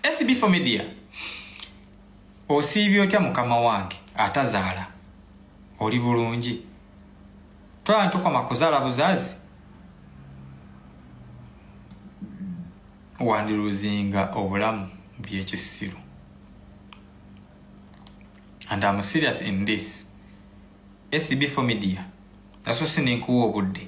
SB for media osiibye otya mukama wange atazaala oli bulungi twala ntukoma kuzaala buzazi wandiluzinga obulamu byekisiru and am serious in this sbfomedia naso sinenkuwa obudde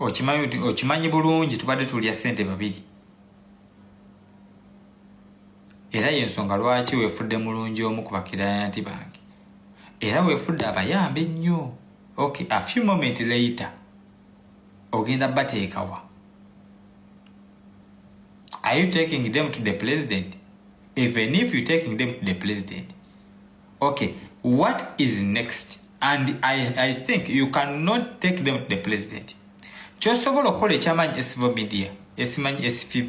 okimanyi bulungi tubadde tulya sente babiri era yensonga lwaki wefudde mulungi omu ku bakirayanti bange era wefudde abayamba ennyo ok a few moment later ogenda bateekawa are you taking them to the president even if you taking them to the president okay what is next and i, I think you cannot take them to the president kyosobola okukola ekyamanyi esivo media esimanyi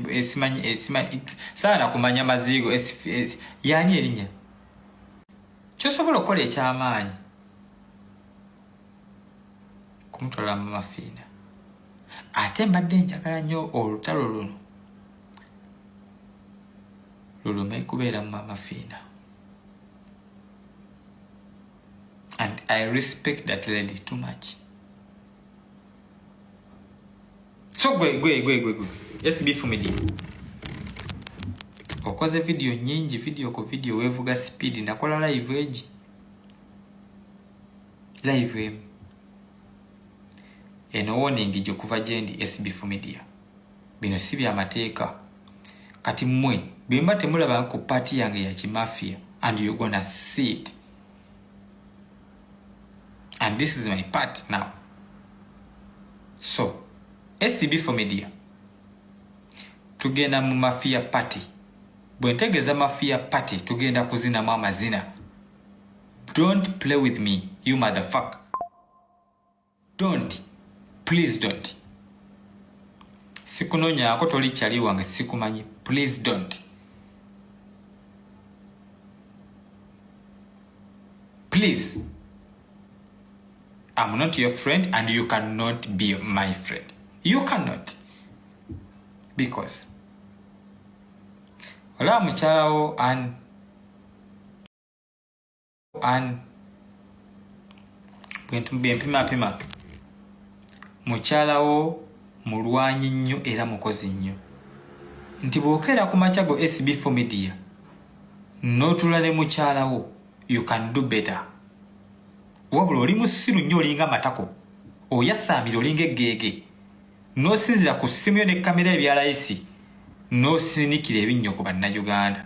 esimanyi esimanyi saana kumanya maziigo yani erinya kyosobola okukola ekyamaanyi kumutwala mu mafiina ate mbadde njagala nnyo olutalo luno lulume kubeera mu mamafiina and i respect that lady too much so gwe gwe gwe gwe gwe sb fumidi okoze vidiyo nyingi vidiyo ku vidiyo wevuga sipiidi nakola live egi live emu eno woningi gyokuva gyendi sb fumidia bino si bya mateeka kati mwe bwemba temulaba ku paati yange ya kimafia and you gonna see it and this is my part now so scb for media tugenda mu mafia party bwe ntegeeza mafia party tugenda kuzinamu amazina don't play with me you motherfuck don't please don't sikunonyaako toli kyali wange sikumanyi please don't please am not your friend and you cannot be my friend you cannot because olaba mukyalawo and an bwempimapima mukyalawo mulwanyi nnyo era mukozi nnyo nti bwokeera ku makya go sb fo media notula ne mukyalawo you can do better wabula oli musiru nnyo olinga matako oyasaamira olinga eggeege n'osinzira ku ssimu yo ne kamera ebyalayisi n'osinikira ebinnyo ku bannayuganda